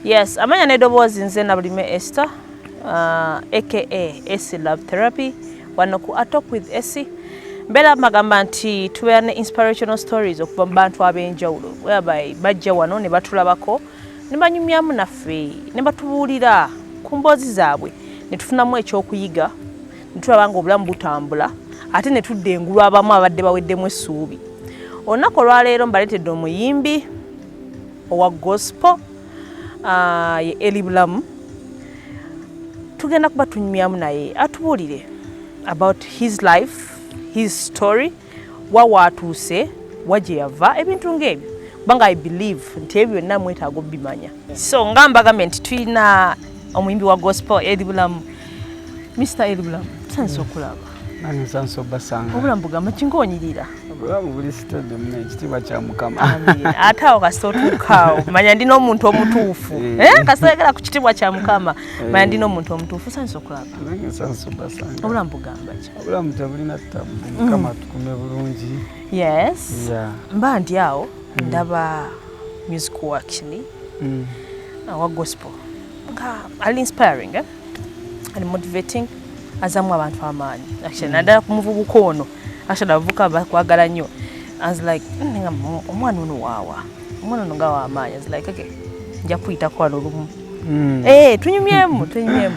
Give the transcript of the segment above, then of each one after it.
yes amanya n'eddoboozi nze nabulime ester uh, aka ac love therapy wano ku atalk with ac mbeera magamba nti tubeera ne inspirational stories okuva mu bantu ab'enjawulo whereby bajja wano ne batulabako ne banyumyamu naffe ne batubuulira ku mboozi zaabwe ne tufunamu ekyokuyiga tulaba nga obulamu butambula ate ne tudda engulu abamu abadde baweddemu essuubi olunaku olwaleero mbaleetedde omuyimbi owa gospo ah, ye eli bulamu tugenda kuba tunyumyamu naye atubuulire about his life his story wa waatuuse wa gye yava ebintu ng'ebyo kubanga i believe nti ebyo byonna mwetaaga obimanya so nga mbagambye nti tulina omuyimbi wa gospel eri bulamu mr eri bulamu tusanisa mm. okulaba obulamu bugamba kinkonyirira ate awo kasita otuukaawo manya ndi n'omuntu omutuufu eh. Eh, kasita oyagala ku kitiibwa kya mukama eh. manya ndi n'omuntu omutuufu sanisa okulaba obulamu bugamba obulamu tebulina ttabu mukama mm. tukume bulungi yes mba ndi awo mm. ndaba music wakini mm. awa gospel nga ali inspiring eh? ali motivating azamu abantu amaanyi actually naddala ku muvubuka ono actually abavubuka bakwagala nnyo as like omwana ono waawa omwana ono nga wamaanyi as like okay nja kuyitako wano olumu Mm. Eh, tunyumyemu tunyumyemu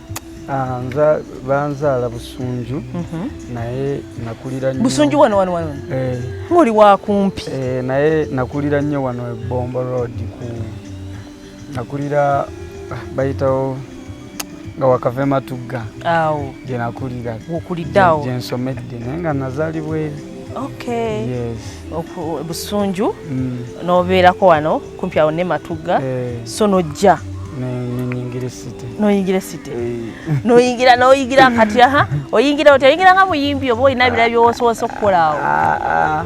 Ah, nza banzaala busunju mhm. naye nakulira busunju wano wano wano eh. ngoli wakumpi eh, naye nakulira nnyo wano ebombo road ku nakulira ah, bayitawo nga wakava ematugga awo gyenakulira okuliddeawo gyensomedde naye nga nazaalibwa eri busunju mm. nobeerako wano kumpi awo ne matugga eh. so nojja noyingira esite noyingira noyingira kati aha oyingira oti oyingira nga muyimbi oba olina bira byowosowosa okukola awo ah, ah.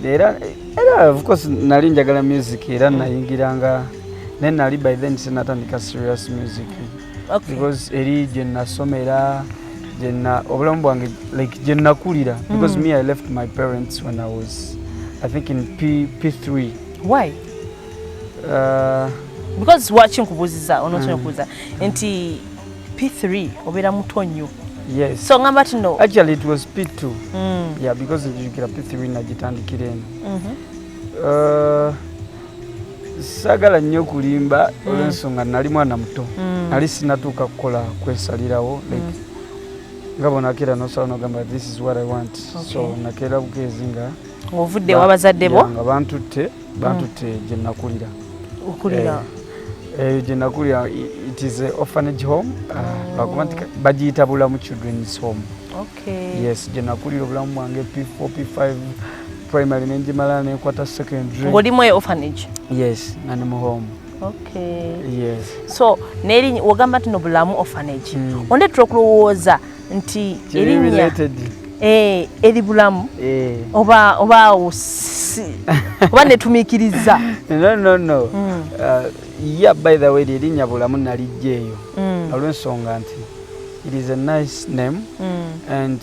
era era of course nali njagala music era nayingiranga naye nali by then sinatandika serious music because eri gye nasomera gyenna obulamu bwange like gye nakulira mm. because mm. me i left my parents when i was i think in P, p3 why uh, because lwaki nkubuuziza onosobola mm. okubuuza nti p3 obeera muto nnyo yes so ngamba ti no actually it was p2 mm. yeah because ejukira p3 nagitandikira eno mm -hmm. uh, sagala nnyo kulimba mm. olwensonga nali mwana muto mm. nali sinatuuka kukola kwesalirawo mm. like nga bonakeera nosala nogamba this is what i want so nakeera bukeezi nga ovudde wabazadde bo nga bantutte bantutte gye nakulira okulira eh, eyo eh, gye nakulira it is a orphanage home ah, oh. bakuba nti bagiyita bulamu children's home Okay. Yes, je nakulira obulamu bwange P4, P5 primary ne njimala ne kwata secondary. Ngoli mu orphanage. Yes, na ne mu home. Okay. Yes. So neri wagamba tino bulamu orphanage. Mm. Onde trokulowoza nti erinya. Eh, eri bulamu. Eh. Oba oba usi. oba netumikiriza. No no no. Mm. Uh, yeah by the way erinya bulamu nalijjeyo. Mm. Alwensonga nti. it is a nice name mm. and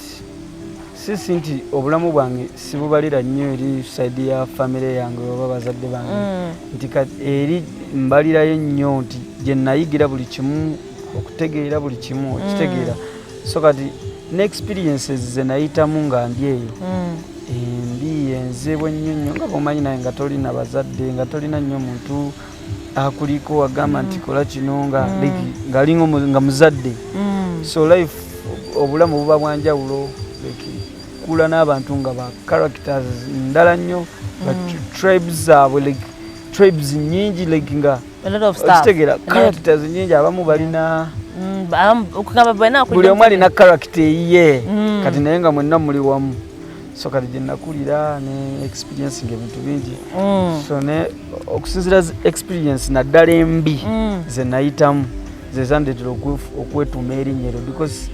sisi nti obulamu bwange sibubalira nnyo eri saidi ya famire yange oba bazadde bange mm. nti eri mbalirayo nnyo nti gye nayigira buli kimu okutegeera buli kimu mm. okitegeera mm. so kati ne experiences ze nayitamu nga ndi eyo mm. embi enzeebwa ennyo nnyo nga bwomanyi naye nga tolina bazadde nga tolina nnyo muntu mm. akuliko agamba nti mm. kola kino nga mm. ngali nga muzadde mm. so life obulamu buba bwanjawulo kula n'abantu nga ba characters ndala nnyo nga tribes zaabwe like tribes nyingi like nga okitegera characters nyingi abamu balina buli omu alina character eyiye kati naye nga mwenna muli wamu so kati gye nakulira ne experience nga ebintu bingi mm. so ne okusinzira experience naddala embi mm. ze nayitamu zezandetera okwetuuma erinnya eryo because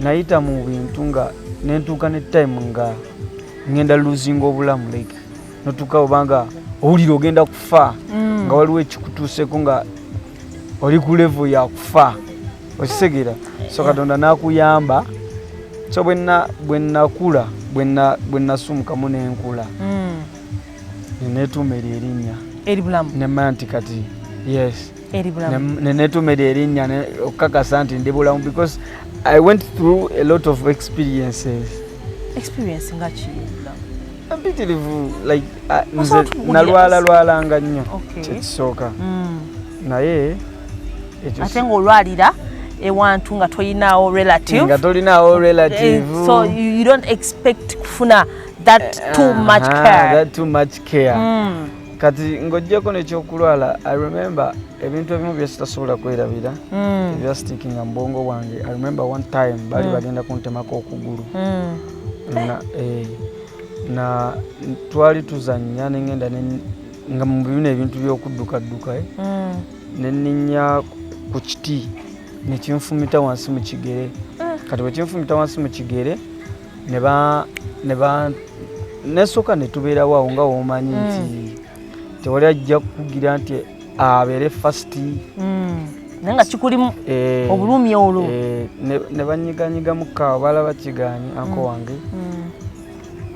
nayita mu bintu nga nentuuka ne time nga ngenda luzinga obulamu like notuuka obanga owulira ogenda kufa mm. nga waliwo ekikutuuseko nga oli ku levo yakufa okitegera so katonda nakuyamba so bwenakula bwenasumukamu nenkula hmm. nenetuuma eryo erinnya nemanya nti kati yes nenetuuma eryo erinnya okukakasa nti ndi bulamu because i went through a lot of experiences experience nga ki mpitirivu like ah, nze nalwala lwalanga nnyo kyekisooka mm. naye ate ngaolwalira ewantu nga tolinaawo relative tolinaawo relative eh, so you don't expect kufuna that eh, too much care that too much care mm. kati ng'ojjeko nekyokulwala i remember ebintu ebimu byesitasobola kwerabira mm. ebyastikinga mubwongo bwange i remember one time baali mm. bagenda kuntemako okugulu mm. na, eh, na twali tuzannya ne ngenda nga mu bino ebintu by'okuddukadduka eh, mm. ne nninya ku kiti ne kinfumita wansi mu kigere ah. kati bwe kinfumita wansi mu kigere ne ba ne ba nesooka ne tubeerawo awo nga womanyi mm. nti tewali ajja kukugira nti abeere first mm. naye nga kikulimu eh, obulumi olwo eh, ne banyiganyigamu kaawa balaba kigaanyi anko mm. wange mm.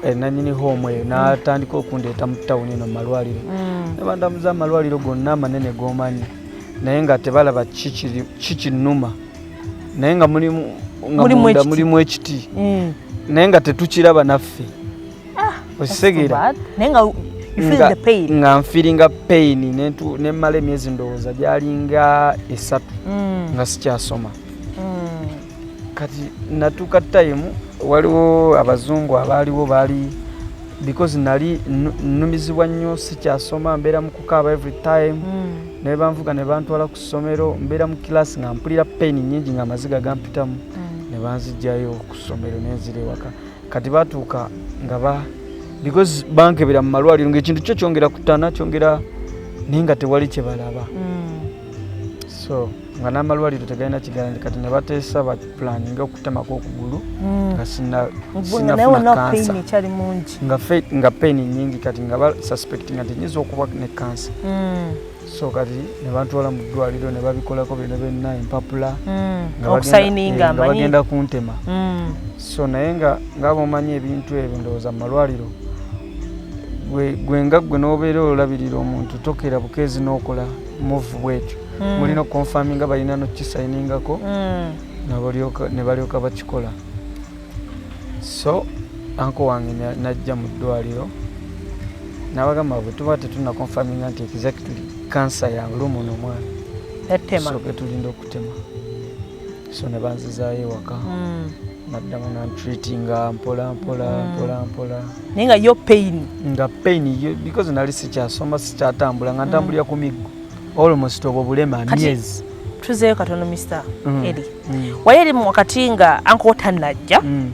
eh, nanyini hoomu eyo natandika okundeeta mu tawuni eno mumalwaliro nebandamuza amalwaliro gonna amanene gomanyi naye nga tebalaba kikinuma naye nga mulimu ekiti naye nga tetukiraba naffe okisegeera naye nga nga nfiringa pain nemmala emyezi ndowooza gyalinga esatu mm. nga sikyasoma mm. kati natuuka time waliwo abazungu abaaliwo baali because nali nnumizibwa nnyo sikyasoma mbeera mu kukaaba every time mm. naye banvuga ne bantwala ku ssomero mbeera mu kilaasi nga mpulira pain nyingi nga amaziga gampitamu ne banzijjayo ku ssomero nenzira ewaka kati batuuka nga ba because bankebera mu malwaliro ngaekintu kyo kyongera kutana kyongera naye nga tewali kyebalaba mm. so nga n'amalwaliro tegalina kigalani kati ne bateesa bapulani nga okutemako okugulu mm. nga sinafuna kansa nga peni nyingi kati nga basuspectinga nti nyinza okuba ne kansa mm. so kati ne bantwala mu ddwaliro ne babikolako byona byonna empapula hmm, okusayininga eh, bagenda kuntema hmm. so naye nga ngaaba omanyi ebintu ebyo ndowooza mu malwaliro gwe nga gwe n'obeera olabirira omuntu tokeera bukeezi n'okola muvu bwekyo hmm. mulina okukonfaminga balina nokukisayiningako ne balyoka bakikola so anko wange najja mu ddwaliro nabagamba bwe tuba tetuna confirminga nti exactly kansa ya lumu nomwana soke tulinda okutema so ne banzizaayo ewaka hmm. naddamu nantreatinga mpola mpola hmm. mpola mpola naye nga yo pain nga pain because nali sikyasoma sikyatambula nga ntambulira hmm. ku miggo almost obwo bulema myezi tuzeeyo katono mr mm. eri mm. wali eri wakati nga anko tanajja mm.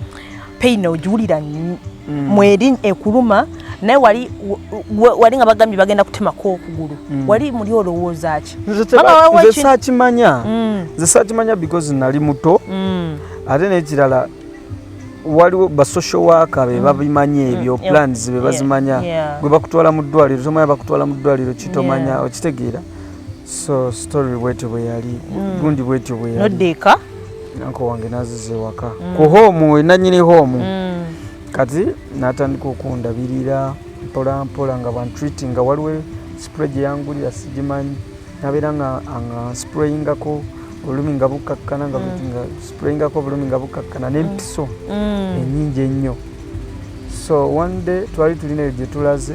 peyina ogiwulira mm. mweri ekuluma naye wali wali nga bagambye bagenda kutemako okugulu mm. wali muli olowooza ki nze sakimanya mm. nze sakimanya because nali muto mm. ate nekirala waliwo basocial waka be mm. babimanyi mm. ebyo mm. plans be bazimanya yeah. yeah. gwe bakutwala mu ddwaliro tomanya bakutwala mu ddwaliro kitomanya yeah. okitegeera so story bwetyo bwe yali mm. gundi bwetyo bwe yali nodda eka nanko wange naziza ewaka mm. ku hoomu wenanyini hoomu mm. kati natandika okundabirira mpola mpola nga bantreati nga waliwo spray gye yangulira sigimanyi nabeera nga sprayingako olulimi nga bukkakkana nga mm. sprayingako obulumi nga bukkakkana nempiso mm. mm. enyingi ennyo so one day twali tulinaeyo gyetulaze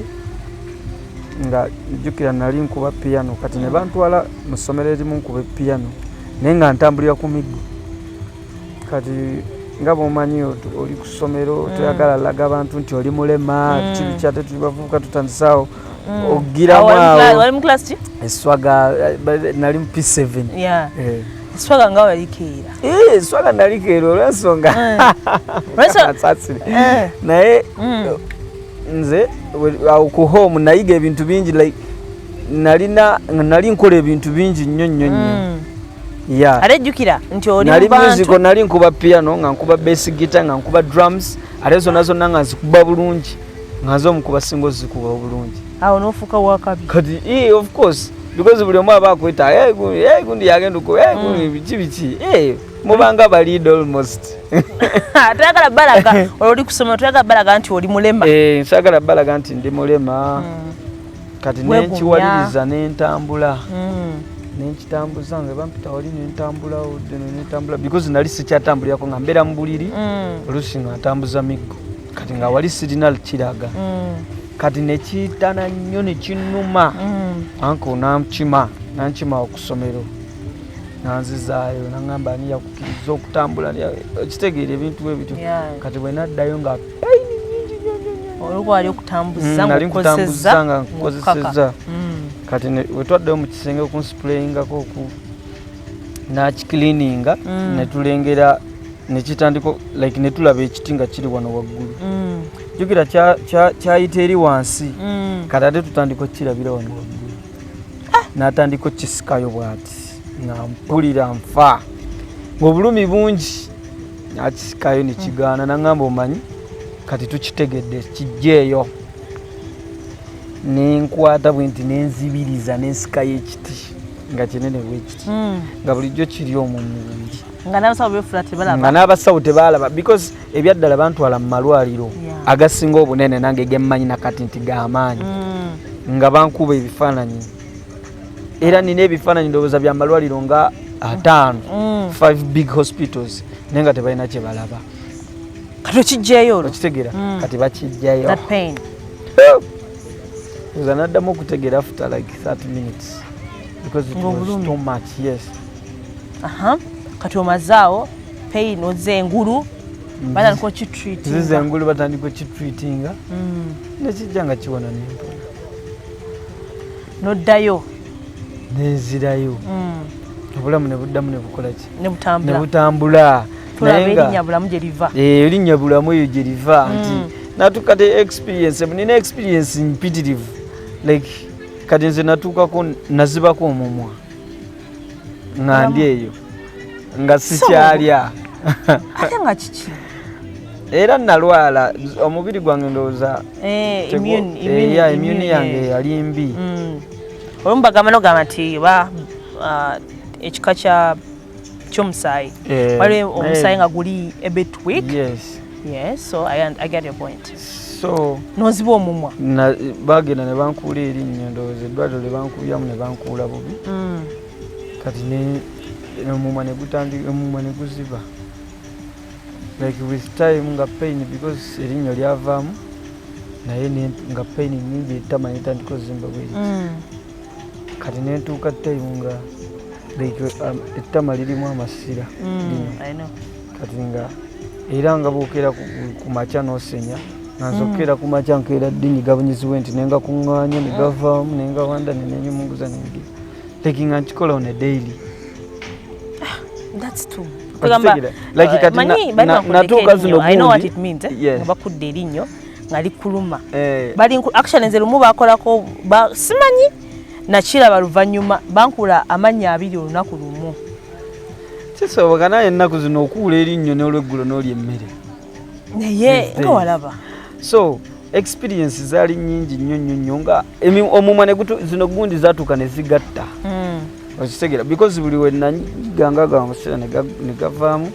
nga jjukira nali nkuba piyano kati ne bantwala mu ssomero erimu nkuba epiyano naye nga ntambulira ku miggo kati nga bwomanyi oli ku ssomero mm. toyagala laga abantu nti oli mulema mm. kibi kyate tuli bavubuka tutandisawo mm. ogiramu awo eswaga eh, nali mu p7 swaga nga walikeera eh, swaga nalikeera olwensonga eh. naye mm. nze awo ku home nayiga ebintu bingi like nalina nali nkola ebintu bingi nnyo nnyo nnyo mm. yeah. ate jjukira nti oli nali musico nali nkuba piano nga nkuba basic guitar nga nkuba drums ate zonna zonna nga nzikuba bulungi nga nze omukuba singa ozikuba obulungi awo nofuuka wakabi kati e, of course because buli omu aba akweta gundi yagenda okuba gundi mm. biki biki mubanga bali almost atagala balaga oli kusoma atagala balaga nti oli mulema eh sagala balaga nti ndi mulema mm. kati ne nkiwaliriza ne ntambula mm. ne nkitambuza nga bampita wali ne ntambula odde ne ntambula because nali sikyatambulira ko nga mbera mbuliri mm. olusi nga ntambuza miggo kati nga wali sirinal kiraga mm. kati ne kitana nyo ne kinuma mm. anko namkima nankima okusomero nanzizaayo nangamba ani yakukiriza okutambula kitegeera ebintu ebityo kati bwenaddayo nga payini nyingi nyonyonyonali nkutambuza nga nkukozeseza mm. kati wetwaddeyo mu kisenge okunsipulayingako oku nakikilininga mm. netulengera nekitandika like netulaba ekiti nga kiri wano waggulu mm. jukira kyayita eri wansi kati ate tutandika okukirabira wano waggulu ah! natandika okukisikayo bwati nga mpulira nfa ngaobulumi bungi nakisikayo nekigaana nangamba omanyi kati tukitegedde kijjeeyo nenkwata bwe nti nenzibiriza nensikayo ekiti nga kinene bwekiti hmm. nga bulijjo kiri omumubiri nga n'abasawo tebaalaba because ebyaddala bantwala mu malwaliro agasinga obunene nange gemmanyi nakati nti gamaanyi mm. nga bankuba ebifaananyi era nina ebifaananyi ndowooza bya malwaliro nga ataano mm. five big hospitals naye nga tebalina kyebalaba kati okijjayo olwo okitegera mm. kati bakijjayo oza naddamu okutegera after like 30 minutes because it was too much yes aha kati omazaawo pain oze engulu mm. batandika okitreatingazize engulu batandika okitreatinga mm. nekijja nga kiwona nempola noddayo nenzirayo mm. obulamu nebuddamu nebukolaki nebutambula erinnya bulamu gyeriva eh, erinnya bulamu eyo gyeriva nti natuuka te experience nina experience mpitirivu like kati nze natuukako nazibako omumwa nga ndi eyo nga sikyalya ate nga kiki era nalwala omubiri gwange ndowooza eh, imuni eh, yange yali mbi mm. olumu bagamba nogamba nti oba uh, ekika kya kyomusaayi eh, waliwo omusaayi nga guli a bit weak yes yes so i, I get your point so noziba omumwa bagenda ne bankuula erinnya ndowooza eddwaliro lye bankubyamu ne bankuula bubi mm. kati omumwa ne gutandika omumwa ne guziba like with time nga pain because erinnya lyavaamu naye nga pain nyingi etama netandika ozimba bweri mm. kati nentuuka time nga um, ettama lirimu amasira mm, kati nga era nga bokeera ku makya nosenya nanzokeera mm. ku makya nkeera ddinyi gabunyiziwe nti nenga kuŋŋaanya ne gavaamu nenga wanda nenenyumunguza nenge leki nga nkikola on a daily ah, that's true Eh, manyi bali bakuddeko erinyo eh? bakudde erinyo nga likuluma eh. bali actually nze lumu bakolako ba, simanyi nakiraba luvannyuma bankula amannya abiri olunaku lumu kisoboka naye ennaku zino okuula erinnyo n'olweggulo n'oli emmere naye nga walaba so experience zaali nyingi nnyo nnyo nnyo nga omumwa zino gundi zatuuka ne zigatta hmm. okitegera because buli wenanyigangagamba omuseera ne gavaamu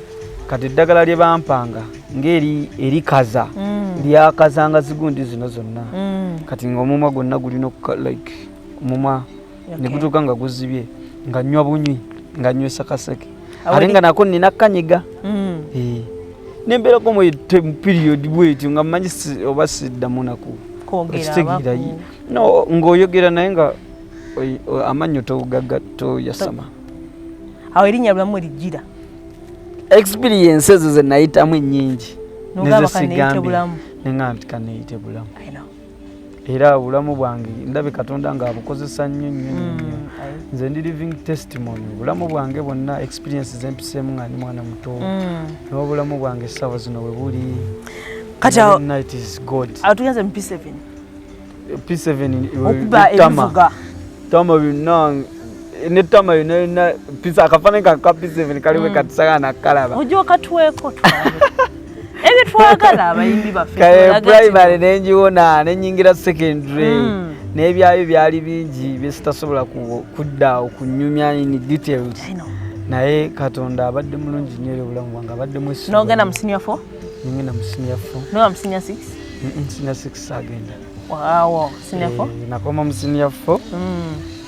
kati eddagala lye bampanga ngeri erikaza mm. lyakaza nga zigundi zino zonna mm. kati nga omumwa gwonna gulina like omumwa negutuuka nga guzibye nga nywa bunywi nga nywesa kaseke ate nga nako nina kanyiga mm. eh. nembeerako mu period bwetyo nga manyi oba siddamu naku ekitegeera no ngaoyogera naye nga amannyo togaga toyasama awo erinnya lulamu lijjira experience ezo ze nayitamu ennyingi nezesigambye neŋamba nti kaneyite bulamu era obulamu bwange ndabe katonda nga abukozesa nnyo nnyo nnyo mm, nze ndi living testimony obulamu bwange bwonna experience zempiseemu nga ndi mwana muto mm. n'obulamu bwange essaawa zino we buli kati tugenze mu p7 okuba ebivuga tama binange netama yonayona pisa akafanani kaka piseveni kaliwe mm. katisaka nakalaba oja okatweko ebyo twagala abayimbi baffe primary nenjiwona nenyingira secondary mm. nebyayo byali bingi byesitasobola kudda okunyumya in details naye katonda abadde mulungi nyo eri obulamu bwange abadde mwesi nogenda mu senior four Ningenda mu senior 4. No, I'm senior 6. Mm -mm, senior 6 sagenda. Wow, senior 4. Eh, nakoma mu senior 4. Mm.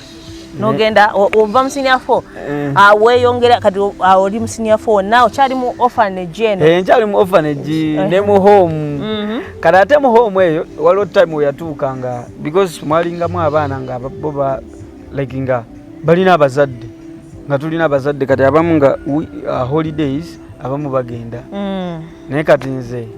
Nogenda ova mu senior 4. Eh. Ah, we yongera kati ah, oli mu senior 4. Now chali mu orphanage eno. Eh, chali mu orphanage eh. ne mu home. Mm -hmm. Kati ate mu home eyo waliwo time we yatuuka nga because mwalingamu abaana nga bo ba like nga balina abazadde nga tulina abazadde kati abamu nga uh, holidays abamu bagenda mm. naye kati nze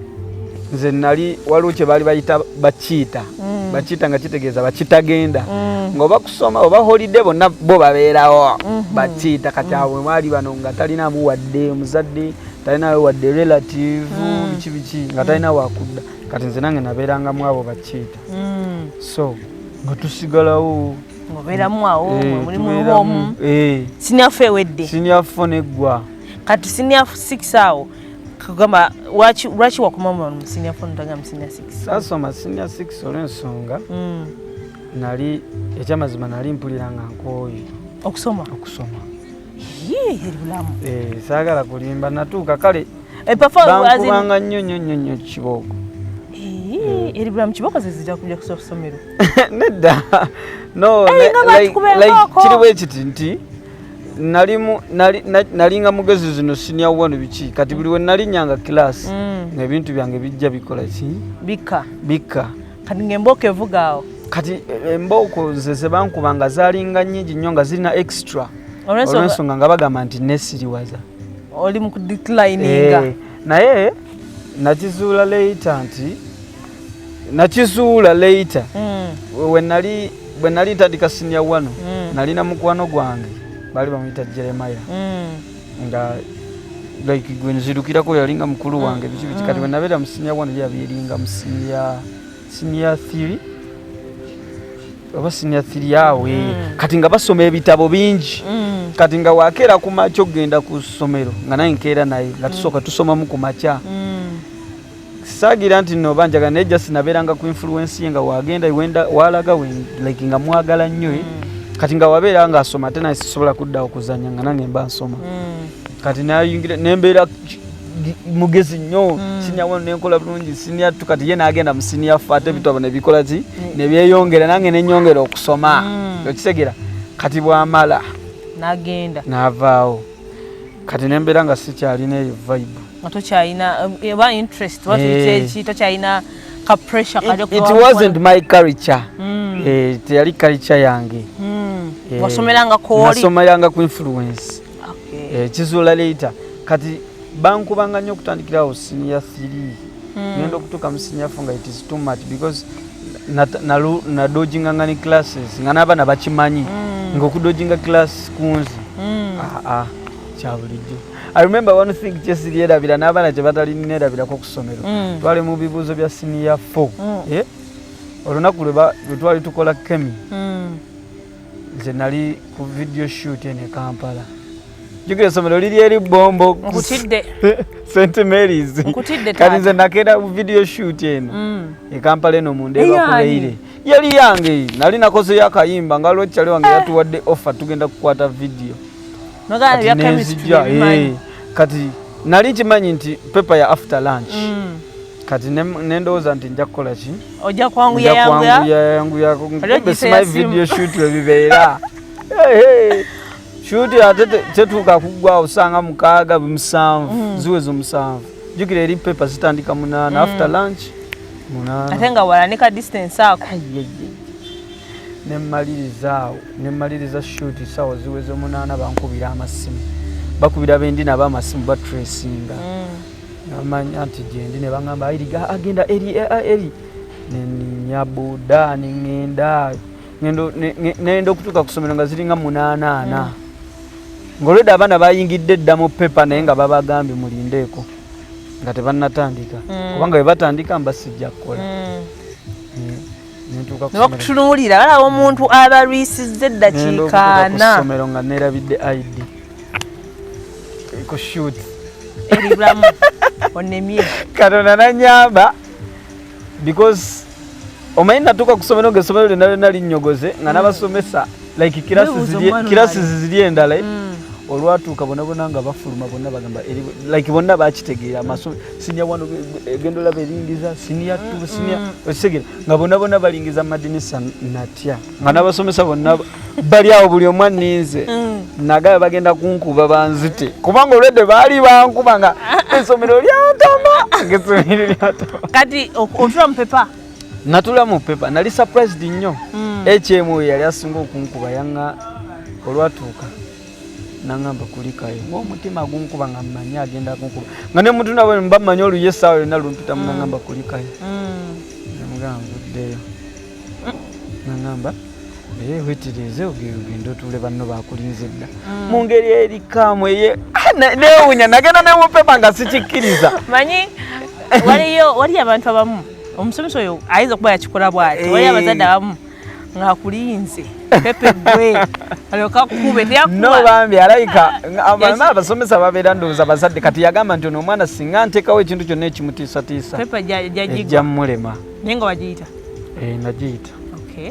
nze nali waliwo kye baali bayita bakiita mm. bakiita nga kitegeeza bakitagenda mm. ngaoba kusoma oba holiday bonna bo babeerawo mm-hmm. bakiita kati awo mm. mwali bano nga talinamu wadde omuzadde talinawo wadde relative biki biki nga talina wakudda kati nze nange nabeerangamu abo bakiita mm. so nga tusigalawo ngoberamu awo eh, muli muomu eh. siniafu ewedde siniafu neggwa kati siniafu six awo kugamba lwaki wakomamu mu sinior four notaga mu sinior six sasoma sinior six olwensonga mm. nali ekyamazima nali mpulira nga nkooye okusoma okusoma Eh, saagala kulimba natuuka kale eh, bankubanga nnyo nnyo nnyo nnyo kibooko eh, eri bulamu kibooko zezija kuja kusa kusomero nedda no kiri bwe kiti nti nalinga mugezi zino sinia wanu biki kati buli we nalinyanga kilasi mm. nebintu byange bijja bikola ki bikka bikka kati ng'embooko evuga awo kati eh, embooko ze zebankuba nga zalinga nyingi nnyo nga zirina extra olwensonga nga bagamba nti nesiriwaza oli mu kudeclininga eh, naye nakizuula leita nti nakizuula leita mm. wenali bwe nali ntandika sinia wano mm. nalina mukwano gwange baali bamuyita jeremaya mm. nga like gwe nzirukirako yali nga mukulu mm. wange biki biki kati mm. wenabeera mu siniya one yabyeringa mu siniya siniya thiri oba siniya thiri awe mm. kati nga basoma ebitabo bingi kati nga wakeera ku makya okugenda ku ssomero nga naye nkeera naye nga tusooka tusomamu ku makya saagira nti no banjaga naye just nabeeranga ku influence ye nga wagenda wenda walaga we like nga mwagala nnyo eh. mm. kati nga wabeera nga asoma ate naye sisobola kudda okuzanya nga nange mba nsoma mm. kati nayingira nembeera mugezi nnyo mm. sinia wano nenkola bulungi sinia tu kati ye nagenda mu sinia fa ate ebitu abo nebikola ki mm. nebyeyongera nange nenyongera okusoma mm. okitegera kati bwamala nagenda navaawo kati nembeera nga sikyalina eyo vibe teyali kalica yange hmm. eh, wasomerangakolisomeranga ku influence eh, kizuula leita kati bankubanga nnyo okutandikirawo siniya thiri hmm. ngenda okutuuka mu siniya fo nga it is too much because nadojinganga ne classes nga n'abaana bakimanyi hmm. ngaokudojinga class kunzi aa ah, ah, kyabulijjo I remember one thing just the era bila nabana je batali nera bila ko kusomero. Mm. Twali mu bibuzo bya senior 4. Mm. Eh? Olona kule ba twali tukola kemi. Mm. Nze nali ku video shoot ene Kampala. Jukira somero lili eri bombo. Nkutidde. St Mary's. Nkutidde tata. Kani nze nakeda ku video shoot ene. Mm. E Kampala eno mu ndeba ku leire. Yali yange nali nakoze yakayimba ngalo chale wange ah. yatuwadde offer tugenda kukwata video. eh, kati nali nkimanyi nti pepa ya after lunch mm. kati nendowooza nti nja kukola ki ojja kwanguyayanguyakobesima video shut webibeera shuti ate tetuuka kuggwa osanga mukaaga musanvu mm. ziweza omusanvu jukira eri pepa zitandika munaana mm. after lunch munaana ate nga walanika distance ako nemmaliriza awo nemmaliriza shuti sawa ziweze omunaana bankubira amasimu bakubira bendi nabo amasimu batresinga mm. namanya nti gyendi nebagamba airiga agenda eri eri neninya boda nengenda nenda okutuuka kusomero nga ziringa munaanaana mm. ngaolwedde abaana bayingidde dda mu pepa naye nga babagambye mulindeeko nga tebanatandika mm. kubanga webatandika mbasijja kukola nebakutunulira balaba omuntu abalwisiza eddakiika ana somero nga nerabidde id kushut eribulamu onemye katonda nanyamba because omanyi natuuka ku somero nga esomero lyonna lyonna linnyogoze nga nabasomesa like kirasi ziziri endala eh? mm. olwatuuka bonabona nga bafuluma bonna bagamba like bonna bakitegeera amasomo sinya wano egendo la beringiza sinia tu mm, sinia mm. osegera nga bona bona balingiza madinisa natya nga nabasomesa bonna bali awo buli omwa ninze mm. nagaya bagenda kunkuba banzite kubanga olwedde baali bankuba nga esomero lyantama ngesomero lyantama kati otula mu pepa natula mu pepa nali surprised nnyo ekyemu yali asinga okunkuba yanga olwatuuka nangamba kulikayo ngaomutima gunkuba nga mmanyi agenda kunkuba nga ne muntu nabo mba mmanyi oluyo essaawa yonna lumpitamu mm. nangamba kulikayo mm. namugamba nvuddeyo nangamba naye wetirize ogende otuule banno bakulinze dda mm. mu ngeri erikaamu eye ah, newunya nagenda newupema nga sikikkiriza manyi waliyo waliyo abantu abamu omusomesa oyo ayinza okuba yakikola bwati waliyo eh. abazadde abamu ngakulinze pepe gwe alyoka kube no bambi alaika abana abasomesa babera ndoza bazadde kati yagamba nti ono omwana singa ntekawo ekintu kyonna ekimutiisa tiisa pepe jajigwa mulema nenga wajiyita eh najiyita okay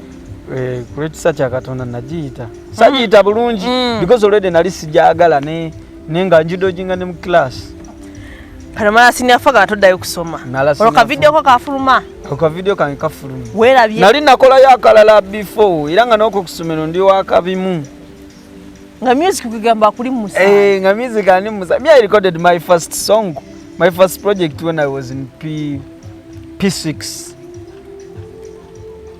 eh kule tisa cha katonda najiyita sajiyita mm-hmm. bulungi mm. because already nali sijagala ne nenga njido jinga ne mu class Panamara siniafaga atodayo kusoma. Oloka video kwa kafuruma. Ako video kange kafulumye. Werabye. Nali nakolayo akalala before era nga noko kusomero ndi wakabimu. Nga music kugamba kuli musa. Eh, nga music ani musa. Me I recorded my first song, my first project when I was in P P6.